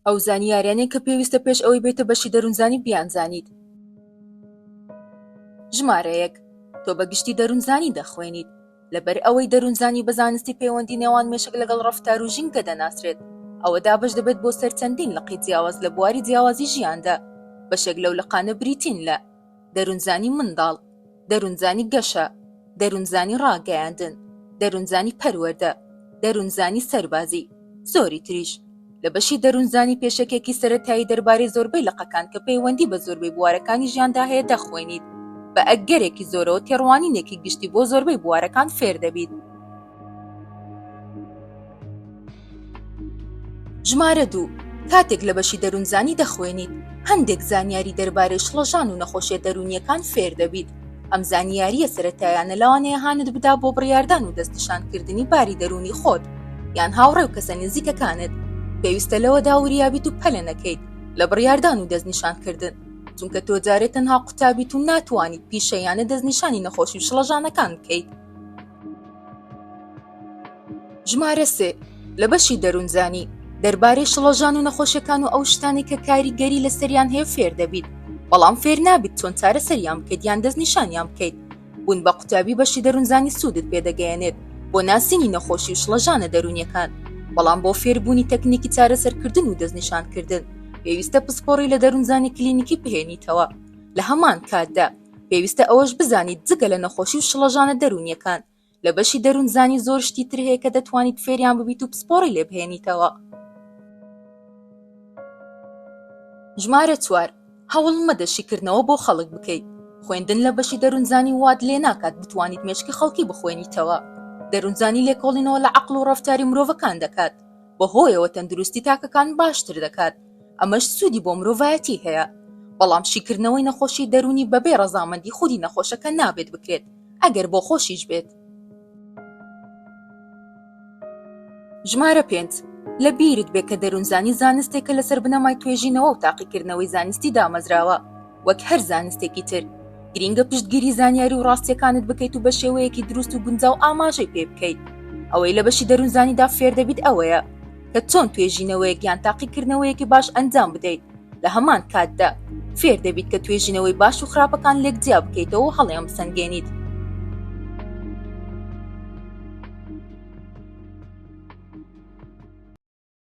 ئەو زانیاریانەی کە پێویستە پێش ئەوەی بێتە بەشی دەروونزانی بیانزانیت. ژمارە یەک، تۆ بە گشتی دەروونزانی دەخوێنیت، لەبەر ئەوەی دەروونزانی بە زانستی پەیوەندی نێوان مێشک لەگەڵ ڕەفتار و ژینگە دەناسرێت، ئەوە دابەش دەبێت بۆ سەر چەندین لقی جیاواز لە بواری جیاوازی ژیاندا، بەشێک لەو لقانە بریتین لە، دەروونزانی منداڵ، دەروونزانی گەشە، دەروونزانی ڕاگەیاندن، دەروونزانی پەروەردە، دەروونزانی سەربازی، زۆری تریش. لە بەشی دەروونزانی پێشەکێکی سەرەتایی دەربارەی زۆربەی لقەکان کە پەیوەندی بە زۆربەی بوارەکانی ژیاندا هەیە دەخوێنیت، بە ئەگەرێکی زۆرەوە تێڕوانینێکی گشتی بۆ زۆربەی بوارەکان فێر دەبیت. ژمارە دوو، کاتێک لە بەشی دەروونزانی دەخوێنیت، هەندێک زانیاری دەربارەی شڵەژان و نەخۆشیە دەروونییەکان فێر دەبیت. ئەم زانیارییە سەرەتایانە لەوانەیە هانت بدا بۆ بڕیاردان و دەستنیشانکردنی باری دەروونی خۆت یان هاوڕێ و کەسە نزیکەکانت. پێویستە لەوەدا وریابیت و پەلە نەکەیت لە بڕیاردان و دەستنیشانکردن، چونکە تۆ جارێ تەنها قوتابیت و ناتوانیت پیشەییانە دەستنیشانی نەخۆشی و شڵەژانەکان بکەیت. ژمارە سێ، لە بەشی دەروونزانی، دەربارەی شڵەژان و نەخۆشیەکان و ئەو شتانەی کە کاریگەری لەسەریان هەیە فێر دەبیت، بەڵام فێر نابیت چۆن چارەسەریان بکەیت یان دەست نیشانیان بکەیت. بوون بە قوتابی بەشی دەروونزانی سوودت پێ دەگەیەنێت بۆ ناسینی نەخۆشی و شڵەژانە دەروونیەکان، بەڵام بۆ فێر بوونی تەکنیکی چارەسەرکردن و دەست نیشان کردن پێویستە پسپۆڕی لە دەروونزانی کلینیکی بهێنیتەوە لە هەمان کاتدا. پێویستە ئەوەش بزانیت جگە لە نەخۆشی و شڵەژانە دەروونییەکان، لە بەشی دەروونزانی زۆر شتی تر هەیە کە دەتوانیت فێریان ببیت و پسپۆڕی لێ بهێنیتەوە. ژمارە چوار، هەوڵ مەدە شیکردنەوە بۆ خەڵک بکەیت. خوێندن لە بەشی دەروونزانی وات لێ ناکات بتوانیت مێشکی خەڵکی بخوێنیتەوە. دەروونزانی لێکۆڵینەوە لە عەقڵ و ڕەفتاری مرۆڤەکان دەکات، بەهۆیەوە تەندروستی تاکەکان باشتر دەکات. ئەمەش سوودی بۆ مرۆڤایەتی هەیە، بەڵام شیکردنەوەی نەخۆشی دەروونی بەبێ ڕەزامەندی خودی نەخۆشەکە نابێت بکرێت، ئەگەر بۆخۆشیش بێت. ژمارە پێنج، لە بیرت بێت کە دەروونزانی زانستێکە لەسەر بنەمای توێژینەوە و تاقیکردنەوەی زانستی دامەزراوە، وەک هەر زانستێکی تر گرینگە پشتگیری زانیاری و ڕاستیەکانت بکەیت و بە شێوەیەکی دروست و گونجاو ئاماژەی پێ بکەیت ئەوەی لە بەشی دەروونزانیدا فێردەبیت ئەوەیە کە چۆن توێژینەوەیەک یان تاقیکردنەوەیەکی باش ئەنجام بدەیت لە هەمان کاتدا فێر دەبیت کە توێژینەوەی باش و خراپەکان لێک جیا بکەیتەوە هەڵیان بسەنگێنیت